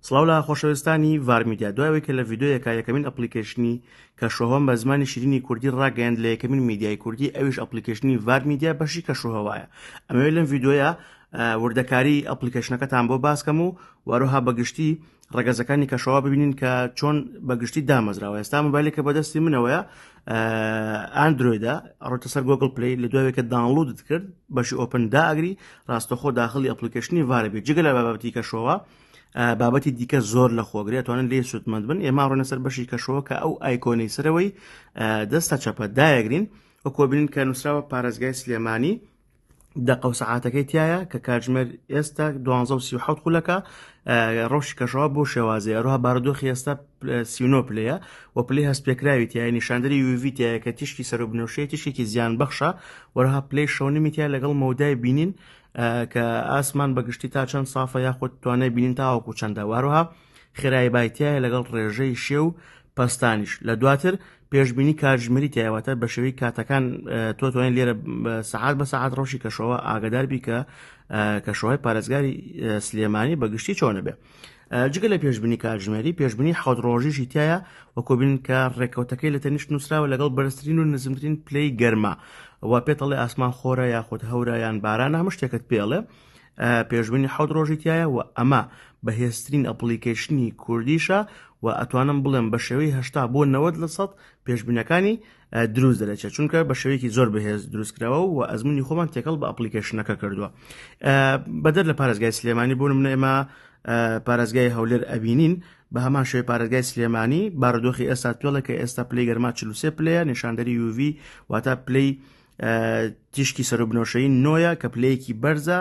سڵاو لە خۆشەوێستانی ڤار میدیا دوای ئەوەی کە لە ڤیدیۆیەکا یەکەمین ئەپڵیکەیشنی کەشوهەوام بە زمانی شیرینی کوردی ڕاگەیاند لە یەکەمین میدیای کوردی ئەویش ئەپڵیکەیشنی ڤار میدیا بەشی کەشوهەوایە ئەمەوێت لەم ڤیدیۆیە وردەکاری ئەپلیکەشنەکەتان بۆ باسکەم و وەروها بەگشتی ڕگەزەکانی کەشەوە ببینین کە چۆن بەگشتی دامەزراوە ئێستا مبایلێک کە بەدەستی منەوەیە ئاندرویدا ڕۆتە سەر گۆگل پلی لە دوایێکە داڵودت کرد بەشی ئۆپن داگری ڕاستەخۆ داخلی ئەپلیکەشنی ڤاربێت جگە لە بابەتی کەشەوە بابەتی دیکە زۆر لە خۆگرێتوانن لێ سوودمەند بن ئێمە ڕۆنە سەر بەشی کەشەوە کە ئەو ئایکۆنەی سەرەوەی دەستە چەپە دایەگرین و کۆبنین کە نووسراوە پارێزگای سلێمانی دەقە و سەعاتەکەی تایە کە کاتژمێر ئێستا 1970 خولەکە ڕەوشی کەشەوە بۆ شێوازی ئەروها بارودۆخی ئێستا سینۆ پلەیە و پلی هەست پێکراوی تای نیشاندری یوڤیتایە کە تیشکی سەر و بنوشەیە تیشێکی زیان بەخشە وەرها پلی شەونیمیتیا لەگەڵ مەودای بینین کە ئاسمان بەگشتی تا چەند سافە یاخود توانای بینین تاوەکو چەندە واروها خێرای بایتیایە لەگەڵ ڕێژەی شێ و پستانیش لە دواتر پێشببینی کاتژمەری تایواتە بە شێوی کاتەکان تۆ توانین لێرە سەعات بە سەعات ڕۆشی کەشەوە ئاگدار بی کە کەشەوەی پارێزگاری سلێمانی بەگشتی چۆنە بێ جگە لە پێشبنی کاتژمێری پێشبنی حەوت ڕۆژیشی تایە وە کۆبین کە ڕێکەوتەکەی لە تەنیشت نووسراوە لەگەڵ بەرزترین و نزمترین پلەی گەرما و پێتەڵی ئاسمان خۆرە یاخود هەورایان باران هەمە شتێکت پێڵێ پێشبنی حەوت ڕۆژی تایە و ئەمە بەهێزترین ئەپلیکیشنی کوردیشە و ئەتوانم بڵێم بە شێوەی هشتا بۆ 90 لە سەد پێشبینەکانی دروست دەرەچێت چونکە بە شێوەیەکی زۆر بەهێز دروستکراوە و ئەزمموی خۆمان تێکەڵ بە ئەپلیکیشنەکە کردووە بەدەر لە پارێزگای سلێمانی بوون منە ئێمە پارێزگای هەولێر ئەبینین بە هەمان شێوی پارێزگای سلێمانی بارودۆخی ئێستا توێڵە کە ئێستا پلی گەرما چلوسێ پلەیە نیشاندەری یوڤی واتە پلی تیشکی سەرۆبنەوەشەی نۆیە کە پلەیەکی بەرزە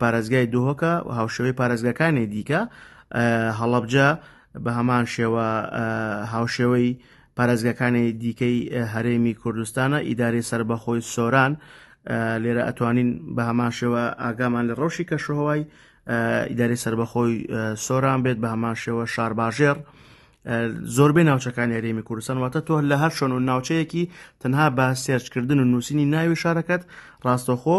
پارێزگای دهۆکە و هاوشێوەی پارێزگاکانی دیکە هەڵەبجە بە هەمان شێوە هاوشێوەی پارێزگاکانی دیکەی هەرێمی کوردستانە ئیداری سربەخۆی سۆران لێرە ئەتوانین بە هەمان شێوە ئاگامان لە ڕەوشی کەشوهوای ئیداری سربەخۆی سۆران بێت بە هەمان شێوە شارباژێر زۆربەی ناوچەکانی هەرێمی کوردستان واتە تۆ لە هەر شۆن و ناوچەیەکی تەنها بە سێرچکردن و نووسینی ناوی شارەکەت ڕاستەخۆ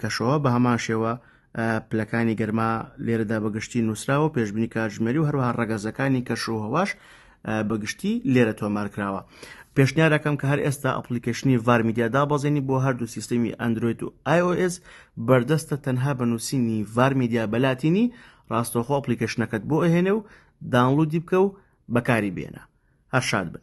کەشەوە بە هەمان شێوە پلەکانی گەرما لێرەدا بەگشتی نووسراوە پێشبنی کاتژمێری و هەروها ڕگەزەکانی کەش و هەواش بەگشتی لێرە تۆمارکراوە پێشنیارەکەم کە هەر ئێستا ئەپلیکیشنی ڤارمیدیا دابەزێنی بۆ هەردوو سیستەمی ئەندروید و iOS بەردەستە تەنها بە نووسینی ڤارمیدیا بەلاتینی ڕاستەخۆ ئەپلیکیشنەکەت بۆ ئەهێنێ و دانلودی بکە و بەکاری بێنە هەر شاد بن